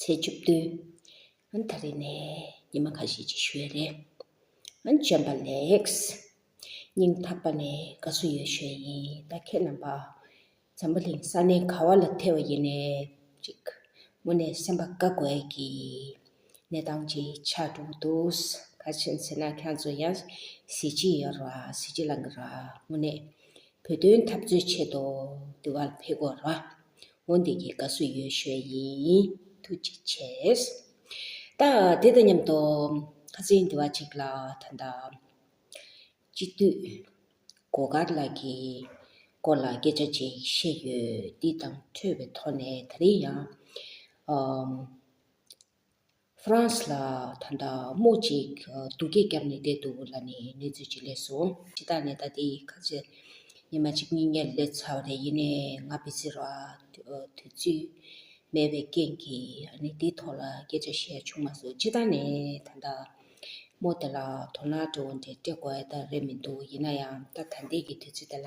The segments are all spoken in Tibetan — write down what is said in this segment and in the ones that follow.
ཚེས་བཅུ་བདུན། ཨ་ད་རེ་ནས་ཉི་མ་ཁ་ཤས་ཅིག་ཞུ་ཡས་རེད། ཨ་བྱམས་པ་ལེགས། སྙིང་ཐག་པ་ནས་དགའ་བསུ་ཡོད་ཞུ་ཡས་ཡིན་ད་ཁྱེད་རྣམ་པ། འཛམ་བུ་གླིང་ས་གནས་ག་བ་ལ་ཐེ་བ་ཡིན་ནས་ཅིག། མུ་ནས་སེམས་པ་དགའ་དགོས་ཀྱི། གནས་སྟངས་ཅིག་ཆགས་འགྲོ་གི་འདུག་ག་བྱས་ཟེར་ན་ཁྱང་ཚོ་ཡང་གཟི་བརྗིད་ཡོད་ར་གཟི་བརྗིད་ལང་གི་ར་མུ་ནས། བོད་དོན་འཐབ་རྩོད་ཆེད་དུ་འདི་བར་ཕེབས་སྐོར་རོ། འོ་འདི་གི་དགའ་བསུ་ཡོད་ཤོས་ཡིན། ཐུགས་རྗེ་ཆེ། ད་དེ་དང་མཉམ་དུ་ཁ་ཟས་འདི་བ་ཅིག་ལ་ད་ལྟ། སྤྱི་འཐུས། གོ་དཀར་ལགས་ཀྱི་སྐོར་ལ་སྐད་ཆ་ཅིག་བཤད་ཡོད་འདི་དང་འཕྲོས་པའི་ཐོག་ནས་ད་རེས་ཡང། France ལ་ད་ལྟ་རྨོ་ཅིག་སྡུག་སྐད་བརྒྱབ་ནས་བསྡད་འདུག་ལ་ནི་གནས་ཚུལ་ཅིག་ལས་སོ། ཕྱི་ཐག་ནས་ད་ལྟའི་ཁ་ཆེ་ཉི་མ་གཅིག་གཉིས་གཉིད་ལས་ཚ་བ་དེ་ཡིན་ནས་ང་བེད་སྤྱོད་རོགས་ཨ། དུས་ཚོད་མེད་པའི་རྐྱེན་གྱིས་ཨ་ནི་དེའི་ཐོག་ལ་སྐད་ཆ་བཤད་བྱུང་མ་སོང་ཕྱི་ཐག་ནས་ད་ལྟ་རྨོ་དེ་ལ་དོ་སྣང་སྤྲོ་བོ་འདྲེ་སྤྲད་དགོས་ཨེ་ད་རེད་མི་འདུག་ཡིན་ན་ཡང་ད་ད་ལྟའི་གི་དུས་ཚོད་དེ་ལ།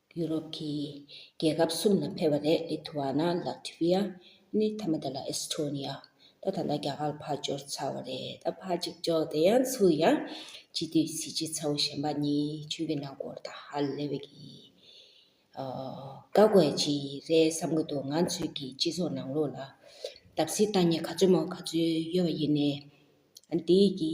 ཡུ་རོབ་ཀྱི་རྒྱལ་ཁབ་གསུམ་ལ་ཕེབས་པ་རེད་ལི་ཐུ་བ་ན་ལ་ཐི་བྷི་ཡ་ནི་ཐ་མ་ད་ལ་ཨེས་ཐྲོ་ནི་ཡ་ད་ད་ལ་རྒྱ་གར་ཕར་འབྱོར་ཚར་བ་རེད་ད་ཕར་ཅིག་འབྱོར་དེ་ཡང་ཚུར་ཡང་སྤྱི་འཐུས་གཟི་བརྗིད་ཚ་བོ་གཞན་པ་གཉིས་ཆོས་ཀྱི་ནང་སྐོར་དང་ཧ་ལས་པའི་གི་བཀའ་བསྒོས་ཅི་རེད་བསམ་གི་འདུག་ང་ཚོས་ཀྱི་སྤྱི་ཚོགས་ནང་ལོགས་ལ་བརྡབ་གསིག་བཏང་ཉེ་ག་ཚོད་མོ་ག་ཚོད་ཡོད་པ་ཡིན་ནའི་འདིའི་གི་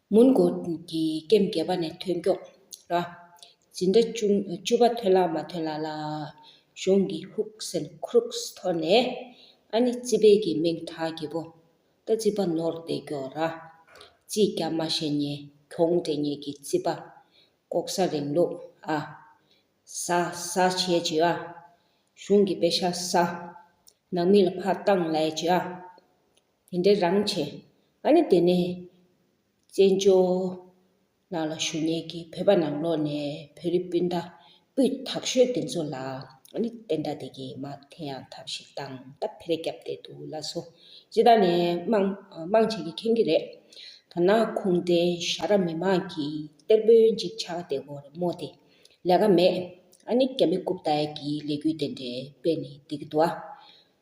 མོན་གྷོ་གྱི་སྐེམ་རྒྱལ་པ་ནས་ཐོན་སྐྱོང། ར། ཇི་འདྲ། བཅུ་པ་ཐོན་ལ་མ་ཐོན་ལ་ལ། གཞུང་གི་ཧུག་སན Crooks ཐོར་ནས། ཨ་ནི་རྩིས་དཔལ་གྱི་མིང་གྲགས་བགྱིད་པོ། རྟ་རྩིས་པ་ནོར་བདེ་སྐྱོ་ར། རྩིས་རྒྱག་མ་ཤེས་ཉེས་གྱོང་འདྲེ་ཉེས་ཀྱི་རྩིས་པ། ལྐོག་ཟ་རིང་ལུགས་ཨ། ཟ་ཟ་བྱེད་ཀྱི་ཨ། གཞུང་གི་དཔེ་ཤ་ཟ། ནང་མི་ལ་ཕ་བཏང་ལས་ཀྱི་ཨ། དེ་འདྲའི་རང་བྱས་ཨ་ནི་དེ་ནས། བཙན་བྱོལ་ནང་ལ་བཞུགས་ཉེས་ཀྱིས་བོད་པ་ནང་ལོགས་ནས་བོད་རིགས་སྤུན་ཟླ་སྤུས་དག་ཤོས་དེ་ཚོ་ལ་ཨ་ནི་བསྟན་དགྲ་དེ་གིས་མ་དེ་ཡང་ཐབས་ཤིག་བཏང་སྟབས་ཕེ་རེ་བརྒྱབ་བསྡད་འདུག་ལ་སོ་སྤྱི་དག་ནས་དམངས་དམངས་བྱེད་ཀྱི་མཁྱེན་གྱི་རེད། ཐ་ན་ཁུངས་ལྡན་ཤ་ར་མི་མང་གི་གཏེར་དཔོན་ཅིག་ཆགས་བསྡད་གོ་རེ་མོ་དེ་ལས་ཀ་མེད་ཨ་ནི་རྒྱ་མི་རྐུབ་བཏགས་ཀྱི་ལས་འགུལ་དེ་འདྲའི་དཔེ་ནི་འདི་གི་འདུག་ཨ།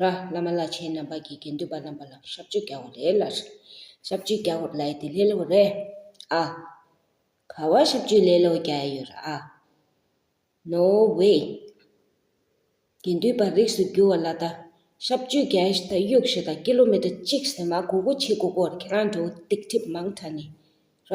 ར་བླ་མ་བླ་ཆེན་རྣམ་པ་གྱི་དགེ་འདུན་པ་རྣམ་པ་ལ་ཞབས་བཅུ་རྒྱ་བོ་རེ་ལ། ཞབས་བཅུ་རྒྱ་བོར་ལའི་དེ་ལེ་ལོ་རེ་ཨ། ག་བ་ཞབས་བཅུ་ལེ་ལོ་རྒྱ་ཡོ་ར་ཨ། ནོ་བྷེ། དགེ་འདུན་པ་རིགས་སུ་རྒྱུ་བ་ལ་ད་ཞབས་བཅུ་རྒྱ་ཨེས་ད་དབྱུག་བཞི་དང་ཀི་ལོ་མི་ཏྲ་གཅིག་ཟེ་མ་གོ་གོ་ཆི་གོ་གོར་ཁྱེད་རང་འགྲོ་འདེགས་ཁྲིབ་མང་ཁྲ་ནི་ར།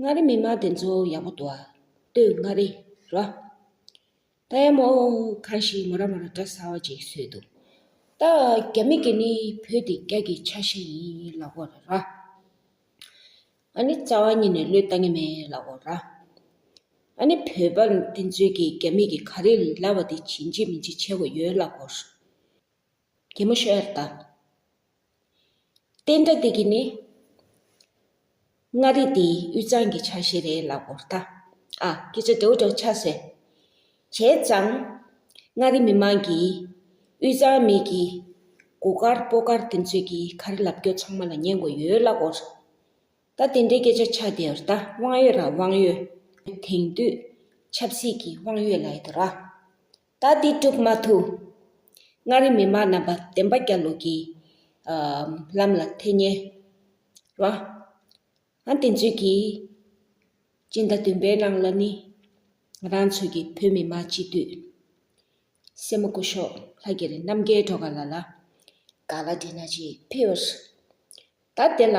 མངའ་རིས་མི་དམངས་བདེན་འཚོལ་བ་ཡག་པོ་འདུག་ཨ། སྟོད་མངའ་རིས། རོ། ད་ཡ་མོ། གང་ཞིག་མོ་ར་མོ་ར་འདྲ་ཟ་བ་ཅིག་བཟོས་འདུག་ད། རྒྱ་མི་གི་ནི་བོད་དེ་རྒྱ་གི་ཆ་ཤས་ཡིན་ལགས་པོ། ར། ཨ་ནི་རྩ་བ་ཉིད་ནས་བློས་བཏང་གི་མེད་ལགས་པོ། ར། ཨ་ནི་བོད་པ་བདེན་འཚོལ་གི་རྒྱ་མི་གི་ག་རེ་ལབ་པ་དེ་བྱིན་གྱིས་མི་འཇིགས་བྱས་པོ་ཡོད་ལགས་པོ། གད་མོ་ཤོད་ཨེར་ད། བསྟན་དགྲ་འདི་གིས་ནི། མངའ་རིས་འདི་དབུས་གཙང་གི་ཆ་ཤས་རེད་ལབ་བོ་ད། ཨ། ཁྱེད་ཚོ་དེའུ་འདྲ་བོ་ཆགས་སོས། བྱས་ཙང། མངའ་རིས་མི་མང་གིས། དབུས་གཙང་མིག་གི། གོ་དཀར་སྤོ་དཀར་དེ་ཚོས་ཀྱི་ག་རེ་ལབ་རྒྱོ་ཚང་མ་ལ་ཉན་གོ་ཡོད་ལབ་བོ། ད་དེ་འདྲའི་སྐད་ཆ་ཆགས་བསྡད་ཨེར་ད་དབང་ཡོད་ར་དབང་ཡོད། དེང་དུས། ཆབ་སྲིད་ཀྱི་དབང་ཡོད་ལ་ཨེ་དོ་ར། ད་དེ་སྒྲུབ་མ་ཐུབ། མངའ་རིས་མི་དམངས་རྣམ་པ་བདེན་པ་རྒྱ་ལོ་གི་ལམ་ལ་ཐེ་ཉེ་བ། ཨང་དེ་ཚོད་ཀྱིས་སྤྱི་ཟླ་བདུན་པའི་ནང་ལ་ནི་ང་རང་ཚོད་ཀྱི་བོད་མི་མང་སྤྱི་འཐུས་སེར་མོ་སྐུ་ཞོགས་ལྷ་གྱེར་རྣམ་རྒྱལ་གྲོ་ག་ལ་ལ་ག་ལ་དེ་ན་ཅིག་ཕེབས། ད་དེ་ལ།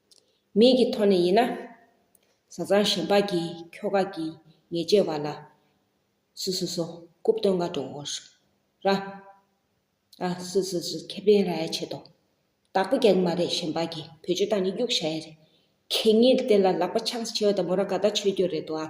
མིག་གི་ཐོག་ནས་ཡིན་ན། བཟའ་ཚང་ཞིང་ལྤགས་ཀྱི་ཁྱོ་ག་གིས་ཉལ་ཅེས་བ་ལ། སུ་སུ་སུ་རྐུབ་སྟོན་ག་འགྲོ་འོ་ཧྲུག་ར། ཨ། སུ་སུ་སུ་ཁེ་ཕན་ར་ཡ་བྱེད་དོ། བདག་པོ་རྒྱག་གི་མ་རེད་ཞིང་ལྤགས་ཀྱིས་བུ་ཆུ་བཏང་ནས་གཡུག་བྱ་ཡ་རེད། ཁྱེད་གཉིས་ལ་དེ་ལ་ལག་པ་འཆང་ས་བྱེད་བ་དང་མོ་ར་ག་ད་ཆོད་རྒྱུ་རེད་དོ་ཨ།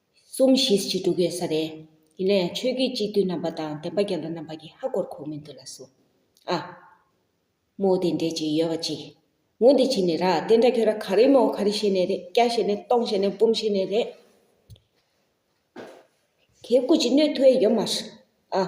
གསུམ་བཞི་བཅུ་དྲུག་ཡོད་ས་རེད། ཡིན་ན་ཡང་ཆོས་བརྒྱུད་གཅིག་བསྡུས་རྣམ་པ་དང་བདེན་པ་རྒྱ་ལོ་རྣམ་པ་གྱི་ཧ་གོར་ཁོག་མི་འདུག་ལ་གསུངས། ཨ། མོ་དེ་འདྲས་ཅིག་ཡོད་པ་ཅིག། ངུ་འདི་བྱེད་ནི་ར་དེ་འདྲ་ཁྱོད་ར་ག་རེ་མོ་ག་རེ་བྱེད་ནས་རེད་སྐྱ་བྱེད་ནས་སྟོང་བྱེད་ནས་འབུམ་བྱེད་ནས་རེད། ཁྱེད་སྐུ་ཅི་ནུས་ཐུ་ཨེ་ཡོད་མ་རེད། ཨ།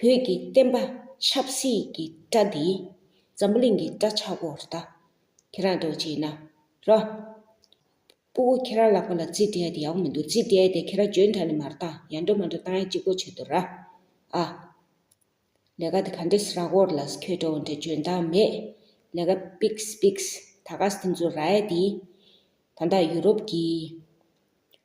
བོད་ཀྱི་བསྟན་པ་ཆབ་སྲིད་ཀྱི་སྐྲ་འདི་འཛམ་བུ་གླིང་གི་སྐྲ་ཆག་པོར་བལྟ། ཁྱེད་རང་རྡོ་རྗེ་ཡིན་ན་རོ། སྤུ་བོ་ཁྱེད་རང་ལག་པ་ལ་རྩིས་བྲལ་དེ་ཡག་པོ་མི་འདུག་རྩིས་བྲལ་དེ་ཁྱེད་རང་འཇོན་ཐང་ནས་མ་བཏང་ཡར་འགྲོ་མར་འགྲོ་བཏང་ཡང་ཅི་དགོས་བྱེད་དོ་ར་ཨ། ལས་ཀ་དེ་ག་འདྲས་ར་གོར་ལ་ཁྱོད་འགྲོ་འོང་འདྲས་འཇོན་ཐང་མེད་ལས་ཀ་པིགས་པིགས་ད་ག་ས་དེ་ཚོ་ར་ཨེ་དེ། ད་ད་ཡུ་རོབ་ཀྱི།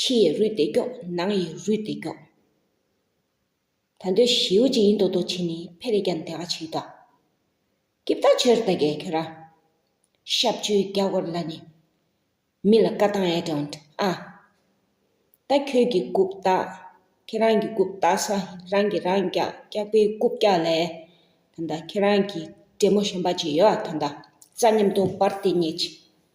ཕྱི་ཡི་རུས་བདེ་སྐྱོག་ནང་ཡི་རུས་བདེ་སྐྱོག། ད་འདོད་བཞིའུ་ཅི་ཡིན་མདོག་མདོག་བྱེད་ནི་ཕལ་རེ་ཀྱང་དེ་ག་བྱེད་དོ། ཀི་བདག་ཆོས་ར་ད་གའི་ཁྱོད་ར། ཤབ་བཅུའི་རྒྱ་སྒོར་ལ་ནི། མི་ལ་བཀའ་བཏང་ཨེ་དྲོན་ཨ། ད་ཁྱོད་ཀྱི་རྐུབ་བཏགས་ཁྱེད་རང་གི་རྐུབ་བཏགས་ས་རང་གི་རང་རྐྱག་རྐྱག་པའི་རྐུབ་བཀྱག་ལས། ད་ཁྱེད་རང་གི་བྲན་མོ་གཞོན་པ་ཅིག་ཡོད་ད་རྩ་ཉམས་སྟོང་སྤར་ཏེ་ཉལ་ཅིག།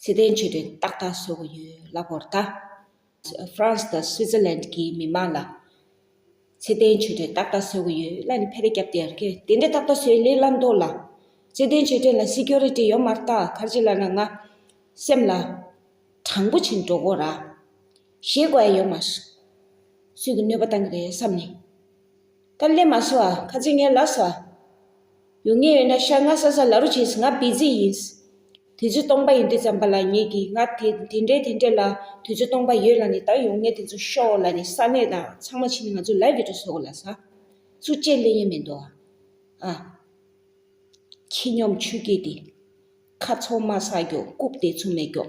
ཚེ་བརྟན་ཆོས་སྒྲོན་ཏག་ཏག་བཟོ་གི་ཡོད་གླ་ཕོག་རྟ། France དང Switzerland གྱི་མི་མང་ལ། ཚེ་བརྟན་ཆོས་སྒྲོན་ཏག་ཏག་བཟོ་གི་ཡོད་གླ་ནི་ཕལ་རེ་རྒྱབ་སྟེར་གི་དེ་འདྲ་ཏག་ཏག་བཟོས་ལེ་གླ་མདོག་ལ། ཚེ་བརྟན་ཆོས་སྒྲོན་ལ Security ཡོད་མ་རྟ་གར་ཅི་ལ་ན་ང། སེམས་ལ། དྲང་པོ་བྱིན་འགྲོ་གོ་ར། ཞེས་བཀའ་ཡོད་མ། སུས་ཀྱི་གནོད་པ་བཏང་གི་རེད་བསམ་ནས། སྟབས་ལེགས་མ་སོང་བ་ཁ་ཚིག་ངན་ལབ་ས་ཡོང་ངེས་ཡོད་ན་ཤ་ང་ས་ས་ལ་རུ་བྱས་ཟིན་ང་བི་ཛི་ཡིན། དུས་ཚོད་སྟོང་པ་ཡིན་དུས་ཙམ་པ་ལ་ངེད་ཀྱིས་ང་དེ་དེ་འདྲས་དེ་འདྲས་ལ་དུས་ཚོད་སྟོང་པ་ཡོད་ལ་ནི་ད་ཡོང་ངེས་དེ་ཚོ་ཤོག་ལ་ནི་ས་གནས་དང་ཚང་མ་ཕྱིན་ནས་ང་ཚོ་ལ་བི་དྲོ་ཟོ་གོ་ལ་ས་ཚུ་ཅེས་གླེང་ཡས་མེད་འདུག་ཨ། ཁྱི་སྙོམས་ཆུ་སྐྱེས་དེ། ཁ་ཚོང་མ་ས་རྒྱོ་རྐུབ་དེ་ཚོ་མེད་རྒྱོ།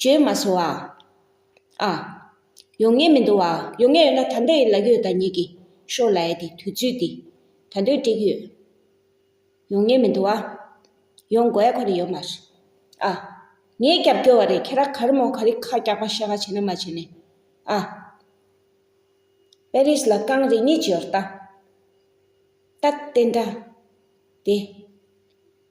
བྱོས་མ་སོང་བ། ཨ། ཡོང་ངེས་མི་འདུག་བ་ཡོང་ངེས་ཡོད་ན་ད་འདོད་ཡིན་ལག་ཡོད་ད་ཉིད་ཀྱི་ཤོག་ལ་ཡ་དེ་དུས་ཚོད་འདི་ད་འདོད་དྲེགས་ཡོད། ཡོང་ངེས་མི་འདུག་བ། ཡོང་དགོས་ཡ་ཁོ་ན་ཡོད་མ་རེད། ཨ། ངས་རྒྱབ་སྐྱོར་བ་རེད་ཁྱེད་རང་ག་རེ་མོ་ག་རེ་ཁ་རྒྱག་པ་ཤ་ཁ་བྱེད་ན་མ་བྱེད་ནས། ཨ། Paris ལ་རྐང་རེ་གཉིས་བྱེད་ཡོད་རྟ། རྟ། དེ་འདྲ། དེ།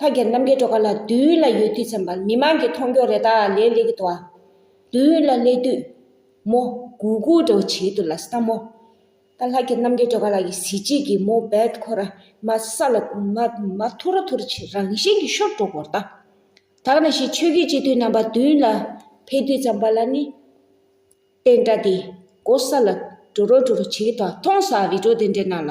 ལྷ་རྒྱལ་རྣམ་རྒྱལ་གྲོགས་ཁ་ལ་དུས་ཡུན་ལ་ཡོད་དུས་ཚན་པ་མི་མང་གི་མཐོང་སྐྱོང་རེ་ད་ལས་སླེ་གི་འདུག་དུས་ཡུན་ལ་སླེ་དུས་མོ་གུ་གུ་འདྲ་བོ་བྱེད་འདུག་ལ་ས་མོ་ད་ལྷ་རྒྱལ་རྣམ་རྒྱལ་གྲོགས་ཁ་ལ་གི་གཟི་བརྗིད་ཀྱི་མོ་བད་ཁོ་ར་མ་ས་ལ་མ་ཐུ་ར་ཐུ་ར་བྱེད་རང་བཞིན་གྱི་ཤོར་འགྲོ་གོ་ར་ད་དག་ན་ཞིག་ཆོས་རྒྱུད་སྤྱི་འཐུས་རྣམ་པ་དུས་ཡུན་ལ་འཕེལ་དུས་ཚན་པ་ལ་ནི་དེ་འདྲ་དེ་གོ་ས་ལ་འགྲོ་རོ་འགྲོ་རོ་བྱེད་གི་འདུག་ཐོང་ས་རི་གྲོ་དེ་འདྲའི་ནང་ལ།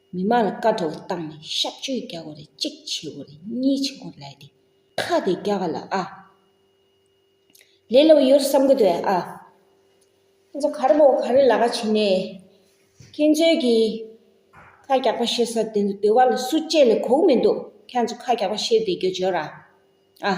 མི་མང་ལ་བཀའ་ཐོག་བཏང་ནས་གཤག་བཅོས་རྒྱག་དགོས་རེད་གཅིག་བྱེད་དགོས་རེད་གཉིས་བྱེད་དགོས་ལད་དེ་ཁ་དེ་རྒྱག་ག་ལ་ཨ། ལས་ལོ་ཡོད་བསམ་གི་འདུག་ཨ། ཁྱེད་ཚོ་ག་རེ་མོ་ག་རེ་ལ་ཀ་བྱེད་ནས། ཁྱེད་ཚོའི་གི་ཁ་རྒྱག་པ་བཤད་ས་དེ་ཚོ་དེ་བ་ལ་སུ་བཅད་ནས་གོག་མི་འདུག་ཁྱེད་ཚོ་ཁ་རྒྱག་པ་བཤད་དེ་རྒྱུ་བྱོས་ར་ཨ།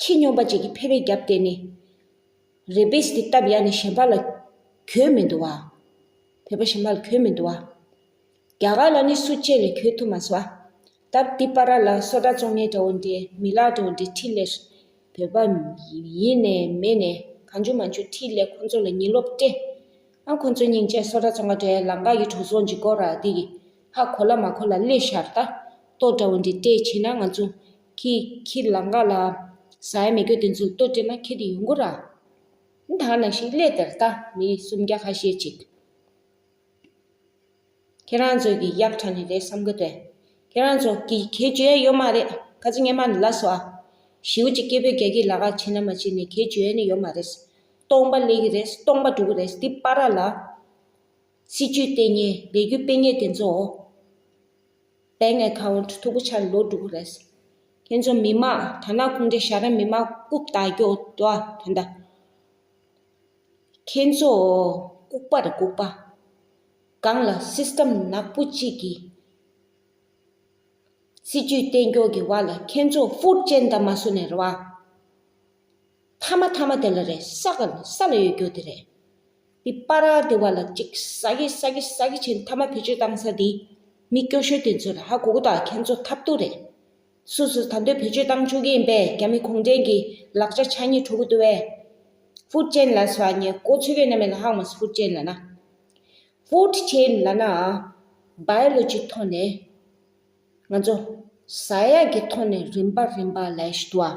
ཁྱི་སྨྱོན་པ་བཅས་ཀྱི་ཕལ་པའི་རྒྱབ་བལྟས་ནས། རེ་བལ་སྟེ་སྟབས་ཡག་ནས་གཞན་པ་ལ་གྱོད་མི་འདུག་བ། བོད་པ་གཞན་པ་ལ་གྱོད་མི་འདུག་བ། རྒྱ་གར་ལ་ནི་སུ་སྐྱེས་ལས་གྱོད་ཐུབ་མ་སོ། སྟབས་དེ་པ་ར་ལ་སོ་དྲ་བཙོང་ངན་དྲ་བོ་འདི་མི་ལག་དྲ་བོ་འདི་ཁྲི་ལས། བོད་པ། ཡིན་ནས་མེད་ནས་གང་བྱུང་མ་བྱུང་ཁྲི་ལས་ཁོང་ཚོ་ལ་ཉིན་ལོག་སྤྲད། ཨང་ཁོང་ཚོ་སྙིང་རྗེ་སོ་དྲ་བཙོང་ཁ་དྲ་ཡ་ལང་ཀ་ཡི་གྲོགས་ཚོགས་འཇིག་སྐོར་ར་འདི་ཡི་ཧ་གོ་ལ་མ་གོ་ལ་སླེ་ཤར་ལྟ་རྟོག་དྲ་བོ་འདི་སྤྲད་ཕྱིན་ན་ང་ཚོ་ཁྱེད་ཁྱེད་ལ་འགག་ལ། ཟ་ཡ་མི་དགོས་དེ་ཚོའི་ལྟོ་སྤྲད་ན་ཁྱེད་ཡོང་གོ་ར། ད་ནང་བཞིན་སླེ་དེར་ལྟ་མི་སུམ་བརྒྱ་ཁ་ཤས་ཅིག། ཁྱེད་རང་ཚོ་གི་གཡག་ཁྲ་ནི་རེད་བསམ་གི་རེད། ཁྱེད་རང་ཚོ་གི་ཁྱེད་བྱོས་ཡ་ཡོད་མ་རེད་ཁ་ཚི་སྙན་མ་ནི་ལ་སོ་ཨ། ཞིའུ་ཅིག་སྐྱེས་བུ་རྒྱ་ཁྱི་ལ་ཁ་བྱེད་ན་མ་བྱེད་ནི་ཁྱེད་བྱོས་ཡ་ནི་ཡོད་མ་རེད། སྟོང་པ་སླེ་གི་རེད་སྟོང་པ་འགྲོ་གི་རེད་འདི་པ་ར་ལ། སྲིད་ཇུས་ལྟེ་གཉེར་ལས་རྒྱུ་སྤེལ་ངེས་དེ་ཚོའོ། དཔལ་ངའི་ཁ་བ་གྲུ་ཐུག་པོ་ཆར་ལོ་དྲུག་རེད། ཁྱེད་ཚོ་མི་མང་དར་ནག་ཁུངས་ཀྱི་ཤ་ར་མི་མང་རྐུབ་བཏགས་རྒྱོ་བ་དེ་འདྲ། ཁྱེད་ཚོ་ལྐུགས་པར་ལྐུགས་པ། གང་ལ system ནག་པོ་གཅིག་གི་སྲིད་ཇུས་གཏན་འཁྱོག་གི་བར་ལ་ཁྱེད་ཚོ་ཧྥུར་ཅན་འདའ་མ་བཟོ་ནས་རེད་བ། ཐ་མ་ཐ་མ་དེ་ལ་རེད་ས་ག་ལ་ས་ལ་ཡོད་རྒྱུ་དེ་རེད། འདི་པ་ར་དེ་བ་ལ་ཅིག་ས་གི་ས་གི་ས་གི་ཆེན་ཐ་མ་བེད་སྤྱོད་བཏང་ས་འདི་མི་སྐྱོ་ཤོས་དེ་ཚོ་ལ་ཧ་གོ་གོ་དང་ཁྱེད་ཚོ་ཐབས་སྡུག་རེད། སུ་ཟེར་ད་འདོད་བེད་སྤྱོད་བཏང་ཆོག་གི་ཡིན་པས་རྒྱ་མི་གུང་བྲན་གྱི་ལག་ཆ་ཆ་གཉིས་འཕྲོ་གི་འདུག་བས། ཧྥུ་ཅན་ལ་ཟ་ཉེ་གོ་ཆོད་གི་ན་མེ་ལ་ཧག་མ་ཟ་ཧྥུ་ཅན་ལ་ན། Food Chain ལ་ན Biology ཐོག་ནས་ང་ཚོ་ཟ་ཡག་གི་ཐོག་ནས་རིམ་པ་རིམ་པ་ལས་ཞུ་བ།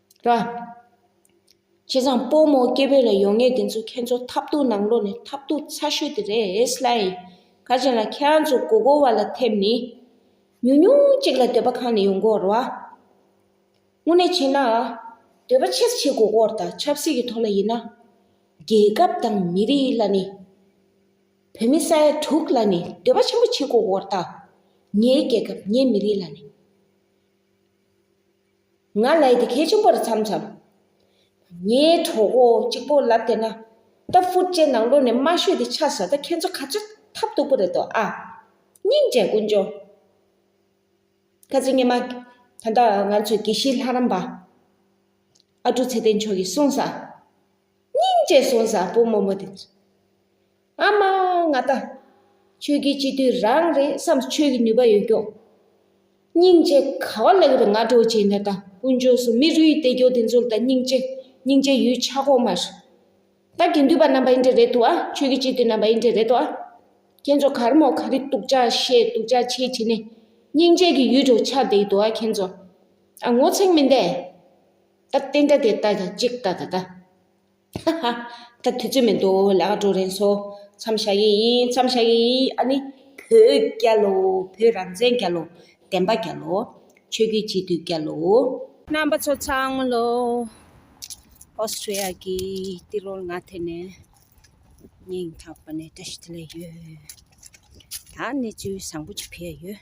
ར། ཁྱེད་ཚང་སྤོ་རྨོ་སྐྱེ་བོས་ལ་ཡོང་ངེས་དེ་ཚོ་ཁྱེད་ཚོ་ཐབས་རྡུགས་ནང་ལོག་ནས་ཐབས་རྡུགས་ཚ་ཤོས་དེ་རེད་ལཱ། ཁ་ཆེམས་ལ་ཁྱེད་རང་ཚོ་མགོ་སྐོར་བ་ལ་ཐེབས་ནི། ཉུང་ཉུང་གཅིག་ལ་སྡོད་པ་ཁང་ནས་ཡོང་སྐོར་ར། དངོས་གནས་བྱས་ན། སྡོད་པ་ཆེ་ས་ཆེ་མགོ་སྐོར་དང་ཆབ་སྲིད་ཀྱི་ཐོག་ལ་ཡིན་ན། རྒྱལ་ཁབ་དང་མི་རིགས་ལ་ནི། བོད་མི་ས་ཡ་དྲུག་ལ་ནི་སྡོད་པ་ཆེན་པོ་བྱེད་མགོ་སྐོར་དང། ངའི་རྒྱལ་ཁབ་ངའི་མི་རིགས་ལ་ནི། ང་ལ་ཡི་དེ་གས་ཆུང་པར་འཚམས་འཚམས། ངའི་གྲོགས་པོ་གཅིག་པོ་ལབ་དེ་ན། ད་ཧྥུ་ཅན་ནང་ལོགས་ནས་དམའ་ཤོས་དེ་ཆགས་ཟ་ད་ཁྱེད་ཚོ་ཁ་ཆགས་ཐབས་སྡུག་པོ་རེད་དོ་ཨ། སྙིང་རྗེ་ཀུན་འབྱུང། ཁ་ཚེ་སྙེ་མ། ད་ལྟ་ང་ཚོའི་དགེ་བཤེས་ལྷ་རམས་པ། ཨ་ཀྲུག་ཚེ་བརྟན་མཆོག་གིས་གསུངས་ས། སྙིང་རྗེ་གསུངས་ས་བུ་མོ་མོ་དེ་ཚོ། ཨ་མ་ང་ལྟ། ཁྱོད་ཀྱིས་སྤྱི་དུས་རང་རེད་བསམས་ཆོས་ཀྱི་ནུས་པ་ཡོད་སྐྱོ། སྙིང་རྗེ་ག་བ་ལ་ཡོད་ང་གྲོ་བྱེད་ནས་ད་དཀོན་མཆོག་སུ་མི་རུ་ཡི་དད་སྐྱོ་དེ་ཚོར་ད་སྙིང་རྗེ་སྙིང་རྗེ་ཡོད་ཆག་གོ་མ་རེད། ད་དགེ་འདུས་པ་རྣམས་པ་ཡིན་དྲེ་རེད་དོ་ཨ་ཁྱོད་ཀྱིས་སྤྱི་དུས་རྣམས་པ་ཡིན་དྲེ་རེད་དོ་ཨ། ཁྱེད་ཚོ་གར་མོ་ག་རི་སྟུག་ཅག་ཤེས་སྟུག་ཅག་ཆེ་བྱེད་ནས་སྙིང་རྗེ་གི་ཡུལ་གྲོ་ཆག་དེ་ཡི་དོ་ཨ་ཁྱེད་ཚོ་ཨ་ངོ་ཚེག་མི་འདེད། ད་བསྟན་དྲ་དེ་ད་ཅིག་ད་ད་ད། ཧ་ཧ། ད་དུས་ཚོད་མི་འདུག་ལས་ཀ་འགྲོ་རན་སོང། མཚམས་བཞག་ཡས་ཡིན་མཚམས་བཞག་ཡས་ཡིན་ཨ་ནི། བོད་རྒྱལ་ལོ་བོད་རང་བཙན་རྒྱལ་ལོ། བདེན་པ་རྒྱལ་ལོ། ཆོས་རྒྱུད་སྤྱི་འཐུས་རྒྱལ་ལོ། རྣམ་པ་ཚོ་ཚང་ལོ། Australia གི་ཏི་རོལ་ང་དེ་ནས་ཉིན་རྒྱབ་པ་ནས་བཀྲ་ཤིས་དེ་ལས་ཡོད། ད་གནས་ཚུལ་བཟང་པོ་ཅིག་ཕེ་ཡ་ཡོད།